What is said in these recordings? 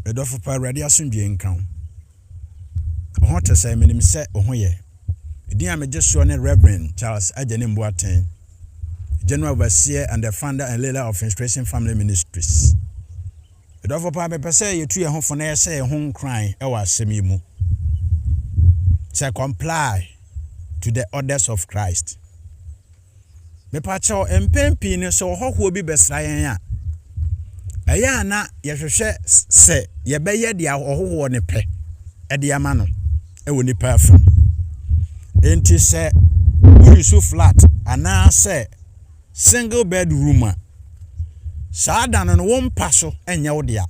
Me dɔfo pa, Awurade asomdwoe nka wo. Wo ho te sɛn? Minim sɛ wo ho yɛ. Edin a megye soɔ ne Rev. Charles Agyenim Boateng, General Overseer and the Founder and Leader of Inspiration Family Ministries. Me dɔfo pa, mepɛ sɛ yɛtu yɛn ho fo na yɛhyɛ yɛn ho nkuran wɔ asɛm yi mu. Sɛ comply to the orders of Christ. Mepakyɛw, mpɛn pii no sɛ ɔhɔhoɔ bi bɛsra yɛn a, ɛyɛ a na yɛhwehwɛ sɛ yɛbɛyɛ deɛ ɔhɔhoɔ no pɛ de ama no wɔ nipa afam. Enti sɛ woresu flat anaasɛ single bed room a, saa da no no wo mpa so nyɛ wo dea.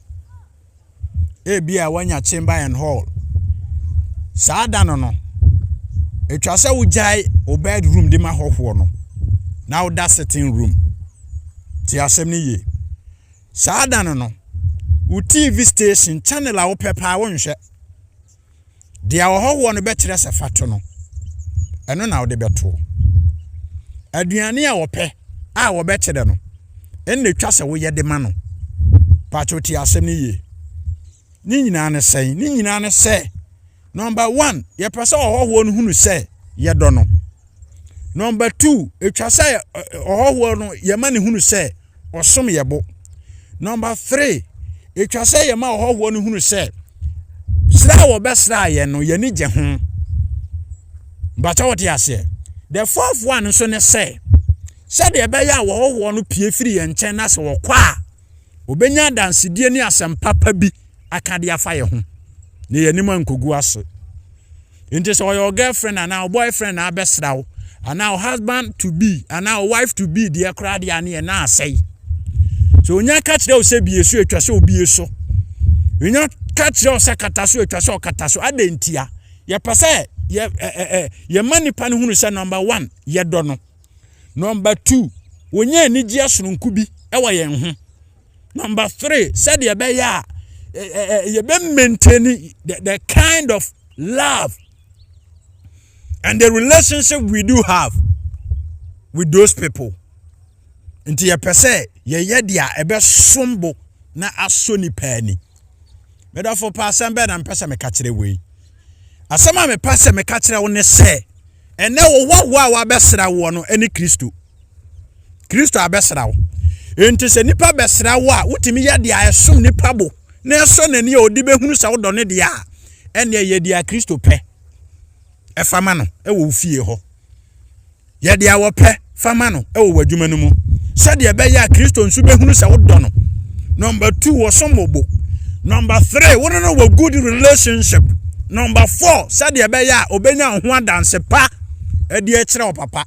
ebia woanya chamber and hall. Saa da no no, atwa sɛ wogyae wo bedroom de ma hɔhoɔ no na woda sitting room. Te asɛm no yie. Saa da no no, wo TV station channel a wopɛ paa wonhwɛ. Deɛ ɔhɔhoɔ no bɛkyerɛ sɛ fa to no, ɛno na wode bɛtoɔ. Aduane a ɔpɛ a wɔbɛkyerɛ no, ɛnna ɛtwa sɛ woyɛ de ma no. Pakyɛ tie asɛm no yie. Ne nyinaa ne sɛn? Ne nyinaa ne sɛ, nɔmba one, yɛpɛ sɛ ɔhɔhoɔ no hunu sɛ yɛdɔ no. Number two, etwa sɛ ɔhɔhoɔ no yɛma ne hunu sɛ ɔsom yɛ bo. Number three, etwa sɛ yɛma ɔhɔhoɔ no hunu sɛ sra a wɔbɛsra yɛn no yɛn ani gye ho. Bata wɔte aseɛ. The fourth one nso ne sɛ sɛdeɛ ɛbɛyɛ a wɔhɔhoɔ no pie firi yɛn nkyɛn na sɛ wɔkɔ a wɔbɛnya adansedie ne asɛm papa bi aka de afa yɛn ho na yɛn anim ankɔgu ase. Ntsi sɛ ɔyɛ wo girlfriend anaa wo boyfriend na abɛsera wo, anaa wo husband to be anaa wo wife to be deɛ koraa deɛ a ne yɛ nan asɛe. Sɛ onya ka kyerɛ wo sɛ bie so a etwa sɛ obie so. Onya ka kyerɛ wo sɛ kata so a etwa sɛ ɔkata so. Adɛn ntia? Yɛpɛ sɛ yɛ ɛ ɛ ɛ yɛma nipa no hunu sɛ number one yɛdɔ no, number two wonya anigyeɛ sononko bi wɔ yɛn ho. Number three, said you be ya, you be maintain the, the kind of love and the relationship we do have with those people. Nti ye pese ye ye dia ebe sombo na aso ni pani. Medafo pa asem be na mpese me kachire wei. Asem a me pese me kachire wo ne se, ene wo wa wa wa besra wo no ene Kristo. kristo abɛsra wo enti sɛ nipa bɛsra wo a wotumi yɛ deɛ ɛsom nipa bo na ɛsɔ n'ani a ɔde bɛhunu sɛ wodɔ ne deɛ a ɛneɛ yɛ deɛ kristo pɛ ɛfa ma no ɛwɔ wo fie hɔ yɛ deɛ wɔpɛ fa ma no ɛwɔ w'adwuma no mu sɛdeɛ ɛbɛyɛ a kristo nso bɛhunu sɛ wodɔ no number two wɔsom mo bo number three wo ne no wɔ good relationship number four sɛdeɛ ɛbɛyɛ a ɔbɛnya ho adanse pa ɛdeɛ kyerɛ wo papa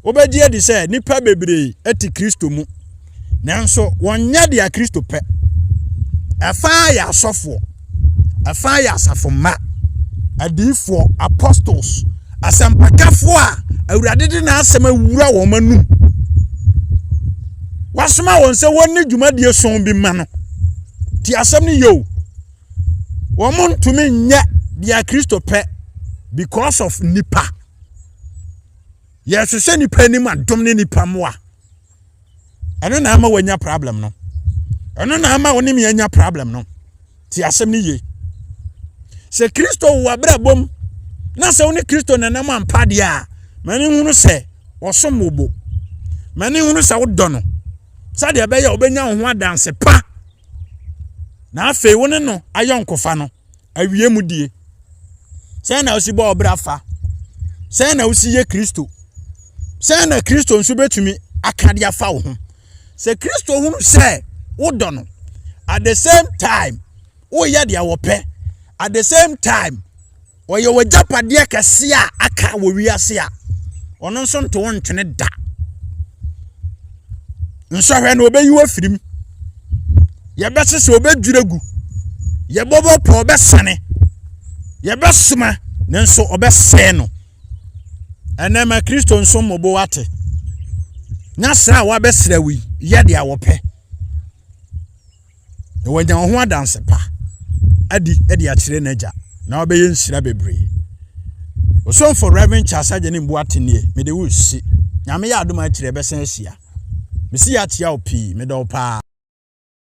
Wobegye adi sɛ nnipa bebree te Kristo mu, nanso wɔnyɛ deɛ Kristo pɛ. Ɛfa yɛ asɔfoɔ, ɛfa yɛ asafo mma, adiifoɔ, apostles, asɛmpakafoɔ a Awurade de n'asɛm awura wɔn anum. Wasoma wɔn sɛ wɔnni dwumadie sɔn bi ma no. Ti asɛm no yɛ o. Wɔn ntumi nyɛ deɛ Kristo pɛ because of nipa. yɛhyehyɛ nipa anim adom ne nipa mmoa ɛno na ama wanya problem no ɛno na ama wɔne me anya problem no te asɛm no yie sɛ kristo wɔ abrabɔ mu na sɛ wo ne kristo nanam ampa deɛ a m'ani hunu sɛ ɔsom wo bo m'ani hunu sɛ wodɔ no sɛdeɛ ɛbɛyɛ a wobɛnya wo ho adanse pa na afei wo ne no ayɔnkofa no awie mu die sɛn na wosi bɔ ɔbra fa sɛn na wosi yɛ kristo sɛn na kristo nso bɛtumi aka de afa wo ho sɛ kristo hunu sɛ wodɔ no at the same time woyɛ deɛ wɔpɛ at the same time ɔyɛ w'agyapadeɛ kɛse a aka wɔ wiase a ɔno nso nto wo ntwene da nsɔhwɛ na ɔbɛyi wɔ firim yɛbɛsesa ɔbɛdwiri agu yɛbɔbɔ pɔ ɔbɛsane yɛbɛsoma nanso ɔbɛsɛe no ɛnɛ ma kristo nso mmobo wate na sra a wabɛsra wi yɛ deɛ wɔpɛ na wanya wo ho adanse pa adi de akyerɛ n'agya na wabɛyɛ nhyira bebree ɔsomfo reverend charles agya ne mboa tenie mede wo si nyame yɛ adom akyerɛ bɛsan ahyia mesi yɛ akyia wo pii medɔ wo paa